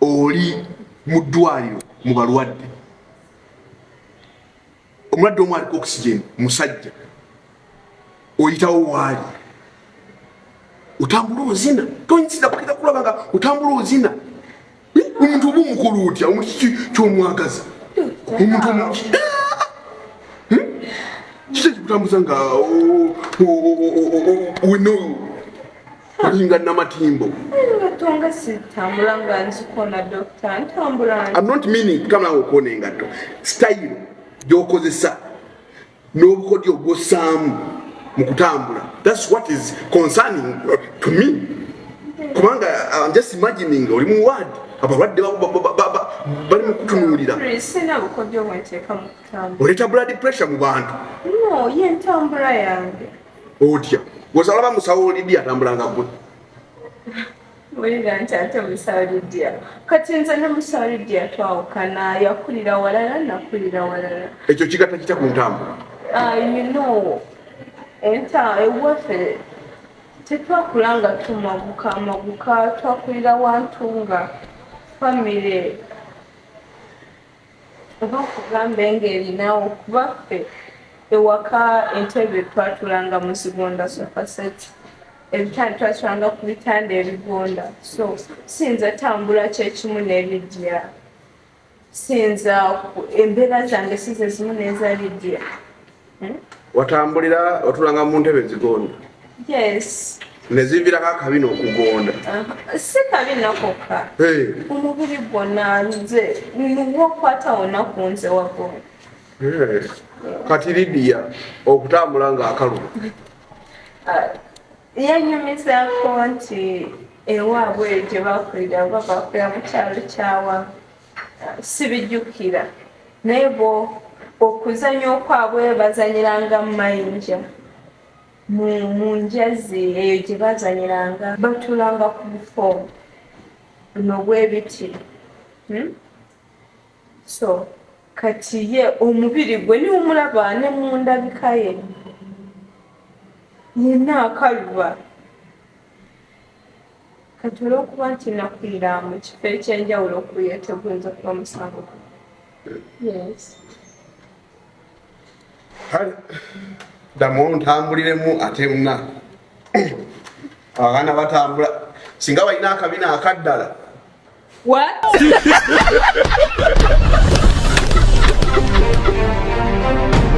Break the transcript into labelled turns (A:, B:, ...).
A: oli mu ddwaliro mu balwadde omulwadde omu aliko oxygen musajja oyitawo waali otambula ozina tonyisiza kukira kulaba nga otambula ozina omuntu oba omukulu otya omuntu kiki kyomwagaza omuntu omuki hmm? kiki ekikutambuza nga weno olinga
B: namatimbo
A: okona engatto sitayiro gyokozesa n'obukodyo ogwosaamu mu kutambula thats what is concerning uh, to me kubanga uh, im just imagining oli mu ward abalwadde bali mu kutunuulira
B: oleeta blood pressure mu
A: bantu no,
B: otya
A: wesa olaba musawo olidi atambulanga gwe wulira nti
B: ate musawo lidia kati nze ne musawo lidia twawukana yakulira walala nakulira walala ekyo kigata kitya ku
A: ntambula ah, you know
B: enta ewaffe tetwakula nga tumaguka amaguka twakulira wantu nga famire oba nkugambe ng'erinawo kuba ffe ewaka entebe twatulanga mu zigonda sofaseti ebitanda twakiranga ku bitanda ebigonda so siyinza tambula kyekimu nelidia siyinza embeera zange sizezimu neza lidia eh? watambulira
A: otulanga mu ntebe zigonda
B: nezivirako
A: akabi nokugonda uh-huh. si
B: kabi nakoka omubiri gwona nze nuwa okwata wona ku nze wagonda
A: kati lidiya okutambula nga akaluba uh,
B: yanyumizako nti ewaabwe gye bakulira oba bakulira mu kyalo kyawa sibijjukira naye bo okuzanya okwabwe bazanyiranga mumayinja mu njazi eyo gye bazanyiranga batulanga ku bufo buno bwebiti hmm? so kati ye omubiri gwe niwumulaba ne mu ndabika ye yenna akaluba Kati olwokuba nti nakulira mu kifo ekyenjawulo okuye teguyinza okuba musango yes
A: kale damu ntambuliremu ate muna abaana batambula singa balina akabina akaddala